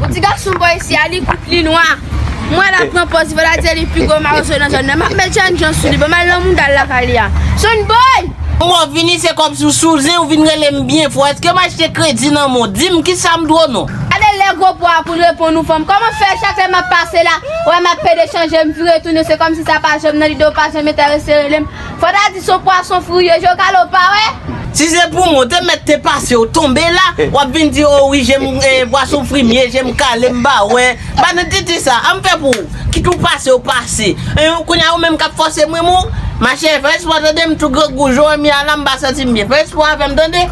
Yon ti gason bò isi a, li kout, li nwa. M wè l ap pran pòz li pa ta di li pi gwo mawozo nan zòn nan. M ap met jèn jan sou li pou m al nan moudal lakay li a. Son boy! Ou ap vini se kòmsi w sou zen ou vin rele m byen fò. Èske m achte kredi nan men w? Di m ki sa m dwe w non? Gade lè gwo po a pou l reponn ou fanm. Kòman fè chak lè m ap pase la, wè m ap pede chanje m vire tounen se kòmsi sa pa janm nan lide w pa janm enterese rele m. Fò ta di son pwason fouye je w kale w pa wè. Si se pou mwen, w te mèt te pase w tonbe la, w ap vin di o wi je m pwason frimye, je m kale m pa wè. Banalitite sa, an m fè pou ou, kit ou pase w pase. Kounye a ou menm k ap fòse m ri m ou, ma chère fè espwa tande m tou grangou je w an mi a la m pa santi m byen. Fè espwa avè m tande.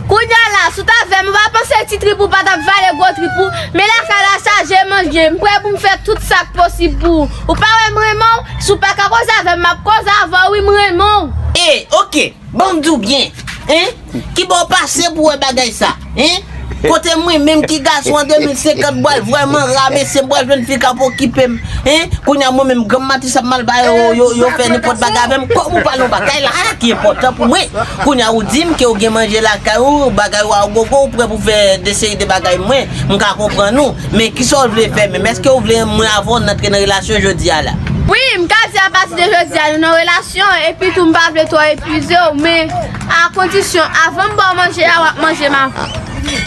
Kounye a la, si w t avè m, ou pa panse ti trip ou pa t ap vale gwo trip ou. Men lakay la sa je m an je, m prè pou m fè tout sa k posib pou ou. Ou pa wè m renmen w? Si w pa ka koze avè m, m ap koze avè w wi, m renmen w. E, ok, ban m di w byen, hein, ki bò w pase pou w wè bagay sa, hein, kote mwen menm ki gason an 2050 m pral vrèman ra mesye, m pral jwenn fi k ap okipe m, hein, kounye a mwen menm granm mati sa m al ba yo, yo fè nenpòt bagay avè m, kòm ou pale yon bagay la a ki enpòtan pou mwen, kounye a ou di m ke ou gen manje lakay ou, bagay ou a gogo, ou prè pou fè de seri de bagay mwen, m ka konprann ou. Men, ki sa w vle fè menm? Èske w vle mwen avè w n antre nan relasyon jodi a la? Wi, m ka di apati de jodi a nou nan relasyon, epi tou m pa vle twò epuize w, men, a kondisyon, avan m ba w manje a, w ap manje m avan.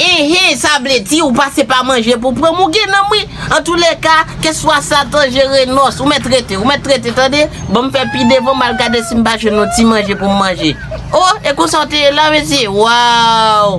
Enhen, sa vle di ou pase pa manje pou w pran m, ou gen nan m wi! Antoulèka, keswa Satan jere nòs, ou mèt rete, ou mèt rete, tande! Ban m fè pi devan, m al gade si m pa jwenn yon ti manje pou m manje. O! E konsa w te ye la, mesye? Waw!